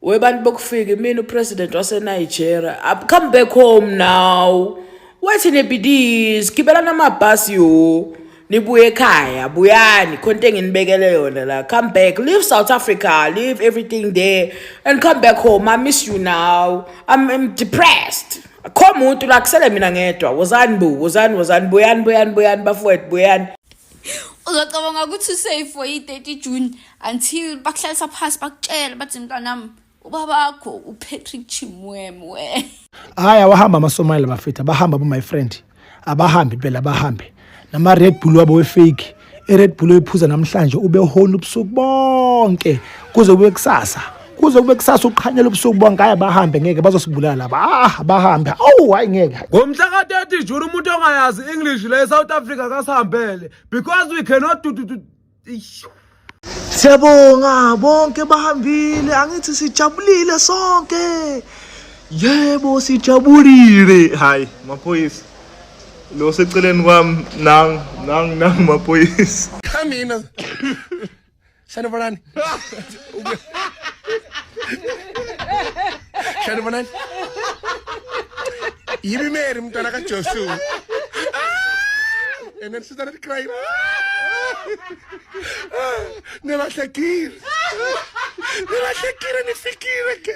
webantu bokufika imina upresident wasenigeria I've come back home now wathi nebidis gibelana amabhasi yo nibuye ekhaya buyani khona into enginibekele yona la come back leave south africa leave everything there and come back home i miss you now i'm, I'm depressed akho muntu la kusele mina ngedwa wozani bu wozani wozani buyani buyani buyani bafowethu buyani uzocabanga ukuthi usafe for i-30 june until bakuhlalisa phasi bakutshele bathi mntanami ubabakho upatrick chimwem we hhayi awahamba amasomayela bafetha bahamba bo my friend abahambi phela bahambe nama-red bull wabo wefake i-red bull oyiphuza namhlanje ubehona ubusuku bonke kuze kube kusasa kuze kube kusasa uqhanyela ubusuku bonke hayi bahambe ngeke bazosibulala laba ah bahambe awu hayi ngeke ngomhla ka-30 juni umuntu ongayazi english le e-south africa kasihambele because we cannot do, do, do. siyabonga bonke bahambile angithi sijabulile sonke yebo sijabulile hayi maphoyisa lo seceleni kwami nang nang nang maphoyisa kanina Sanovanani. Sanovanani. Yimi Mary mntwana ka Jesu. And then she started crying. Nilahlekile. Nilahlekile nifikile ke.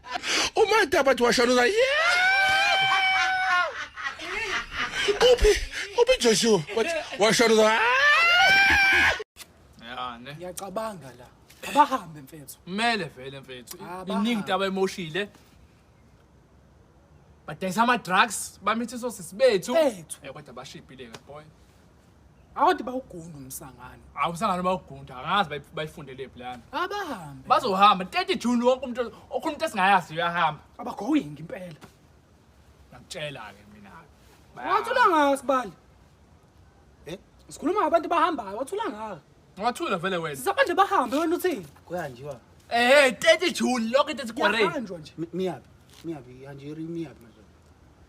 umataba athi washanuza uphi uphi joshua washanuza ya ne ngiyacabanga la abahambe mfethu kumele vele mfethu iningi taba emoshile badayisa ama-drugs bamithiso sisi bethu kodwa bashibhile-ke boy Awuthi bawugunda umsangano. Awu umsangano bawugunda akazi bayi- bayifundele phi lana. Abahambe. Bazohamba 30 June wonke umuntu okhona umuntu esingayazi uyahambe. Abagoing impela. Ngakutshela ke mina. Wathula ngaka sibali. Eh? Sikhuluma ngabantu bahambayo, wathula ngaka. Wathula vele wena. Sisabanje bahambe wena uthini? kuyanjiwa Eh 30 June lokho into esigwareni. Kuyahanjwa nje. Mi- miyaphi miyaphi hanjeri miyaphi manje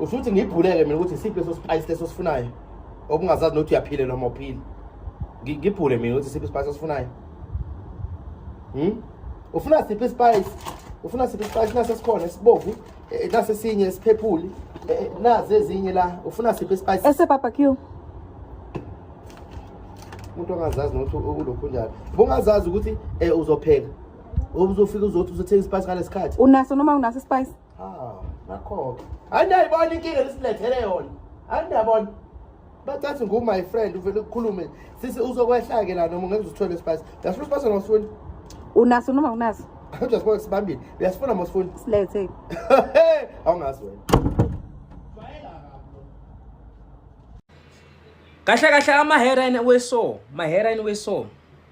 usho ukuthi ngibhuleke mina ukuthi isiphi leso spice leso sifunayo okungazazi nokuthi uyaphile noma uphile ngibhule mina ukuthi isiphi ispice osifunayo hmm? ufuna siphi ispice ufuna siphi ispice nase sikhona esibovu eh, eh, nase sinye esiphephuli eh, nazi ezinye la ufuna siphi ispice ese barbecue umuntu ongazazi nokuthi ukulokhu njalo bungazazi ukuthi uzopheka Ubuzofika uzothi uzothenga ispice ngalesikhathi. Unaso noma unaso ispice? Ah, nakho. Andayibona inkinga lesilethele yona. Andabona. Bathathe ngu my friend uvele ukukhulume. Sisi uzokwehla ke la noma ngeke uzithole ispice. Yasho ispice ngosifuni. Unaso noma unaso? Kodwa sibona sibambile. Uyasifuna mosifuni. Silethe. Awungazi wena. Kahle kahle ama heroin weso, ma heroin weso.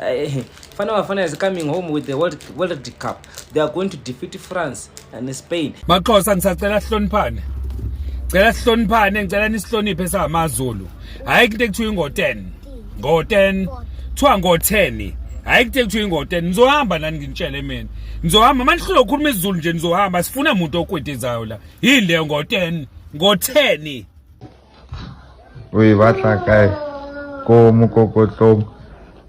Eh, fana bafana is coming home with the world, world cup they are going to defeat france and spain maxhosa ngisacela sihloniphane cela sihloniphane ngicela nisihloniphe samazulu hayi kute kuthiwa ingo-10 ngo-10 kuthiwa ngo-10 hayi kute kuthiwa ingo-10 nizohamba nani nginitshele mina nizohamba uma nihlule ukhuluma isizulu nje nizohamba sifuna muntu okwetizayo la yini leyo ngo-10 ngo-10 o e batla kae ko mokokotlong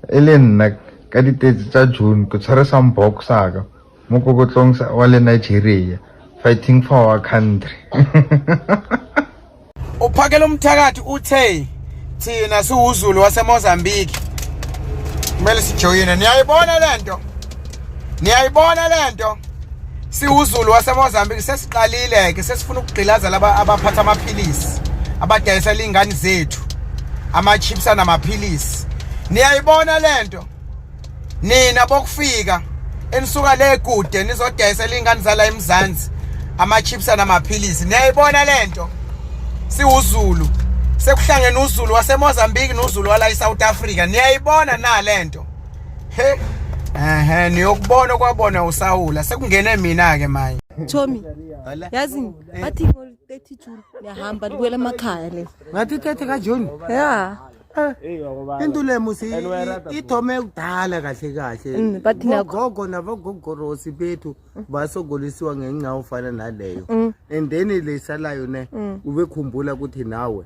e le nna ka ditetse tsa june ke tshware sambok saka mokokotlong wa le nigeria fighting for our country uphakela umthakathi uthe thina siwuzulu wasemozambique kumele sijoyine niyayibona le nto niyayibona lento siwuzulu waseMozambique sesiqalile ke sesifuna ukugqilaza laba abaphatha amaphilisi abadayisa lingane zethu ama chips anamaphilisi niyayibona lento nina bokufika enisuka le kude nizodayisa lingane zala eMzansi ama chips anamaphilisi niyayibona lento siwuzulu sekuhlangene uzulu waseMozambique nozulu wala eSouth Africa niyayibona na lento Hey. Ehhe niyokubona kwabona usawula sekungene mina ke manje. Tommy. Yazi eh. bathi ngo 30 June niyahamba nikwela emakhaya le. Ngathi 30 ka June. Yeah. into le musi ithome kudala kahle kahle mm, bogogo nabogogorosi bethu mm. basogolisiwa ngenxa ofana naleyo mm. and then lesalayo ne ubekhumbula ukuthi nawe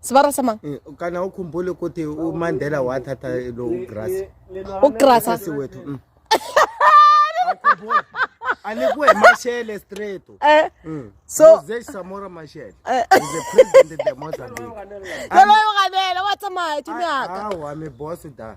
sibara sama Eh, kana ukhumbule ukuthi umandela wathatha lo ugrasi ugrasa sisi wethu mm. Awukhumbuli? anikuwe mashele straight eh Mm. So- Jose samora mashele Eh. is the president of the mozambique lelo yokanela watsamaye thumyaka awa mi boss da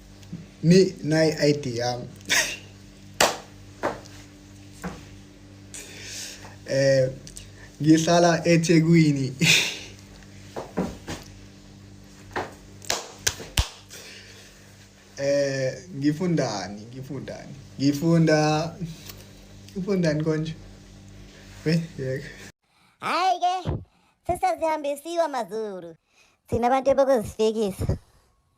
mi nayi ID yami eh ngihlala eThekwini eh ngifundani ngifundani ngifunda ufundani konje we yeke hayi ke sesazihambisiwa mazulu thina abantu bokuzifikisa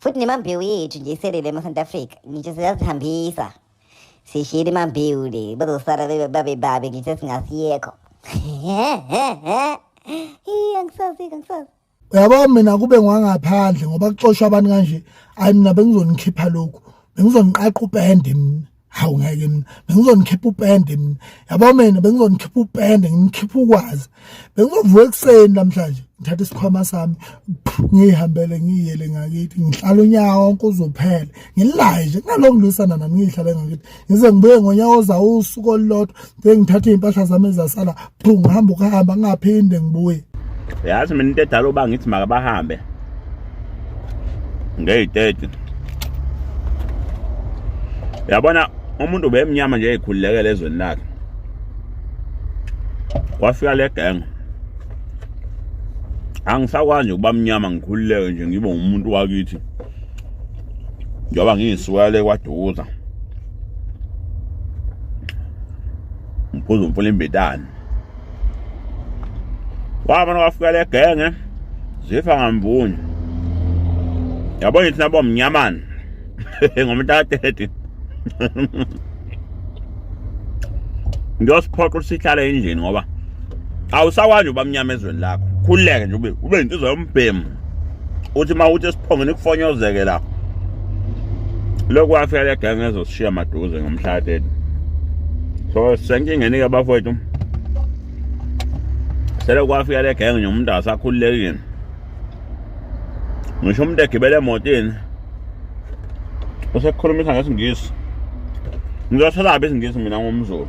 futhi nemambewu yethu nje iselele emasouth africa ngitsho siyazihambisa sishiyile imambewu le bazosala babe babi ngitsho singasiyekho iye angisazi angisazi uyabo mina kube ngwangaphandle ngoba kuxoshwa abantu kanje hayi mina bengizonikhipha lokhu bengizoniqaqa upende mina hawu ngeke mina bengizonikhipa upende mina yabo mina bengizonikhipa upende ngimkhipha ukwazi bengizovuka ekuseni namhlanje ngithatha isikhwama sami ngiyihambele ngiyiyele ngakithi ngihlala unyaka wonke uzophela ngilaye nje kunalokho ngilwisana nami ngiyihlale ngakithi ngize ngibuye ngonyaka ozawo usuku olulodwa Bengithatha izimpahla zami ezasala, phu ngihamba ukuhamba ngingaphinde ngibuye. Yazi mina into edala uba ngithi makabahambe. Ngeyitete. Yabona umuntu ubemnyama nje ekhululekele ezweni lakhe. Kwafika le gang. Angisakwazi ukuba mnyama ngikhululeke nje ngibe umuntu wakithi. Njengoba ngiyisuka le kwaduza. ngiphuza umfula imbitane wabona kwafika le genge zifa ngamvunye yabo ngithi nabo mnyamana ngomntu ka-30 ngiyosiphoqa ukuthi sihlale endlini ngoba awusakwazi uba mnyama ezweni lakho khululeke nje ube ube yintizwa yombhemu uthi uma uthi esiphongeni kufonyozeke la lokhu wafika le gang ezosishiya maduze ngomhlatheni so senkingeni-ke bafowethu selokhu wafika le gang nje umuntu asakhululekile ngisho umuntu egibele emotini usekhulumisa ngesingisi ngizoselaphi isingisi mina ngumzulu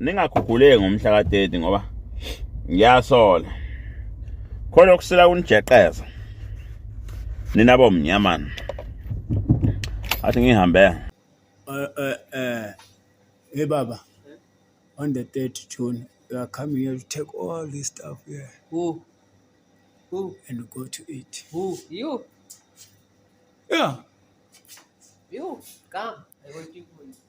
ningaguguleki ngomhla ka-30 ngoba ngiyasola khona okusila kunijeqeza nina bomnyamana athi ngihambe eh eh eh hey baba on the 30 June you are coming here to take all this stuff here who who and go to it who you yeah you come i will keep you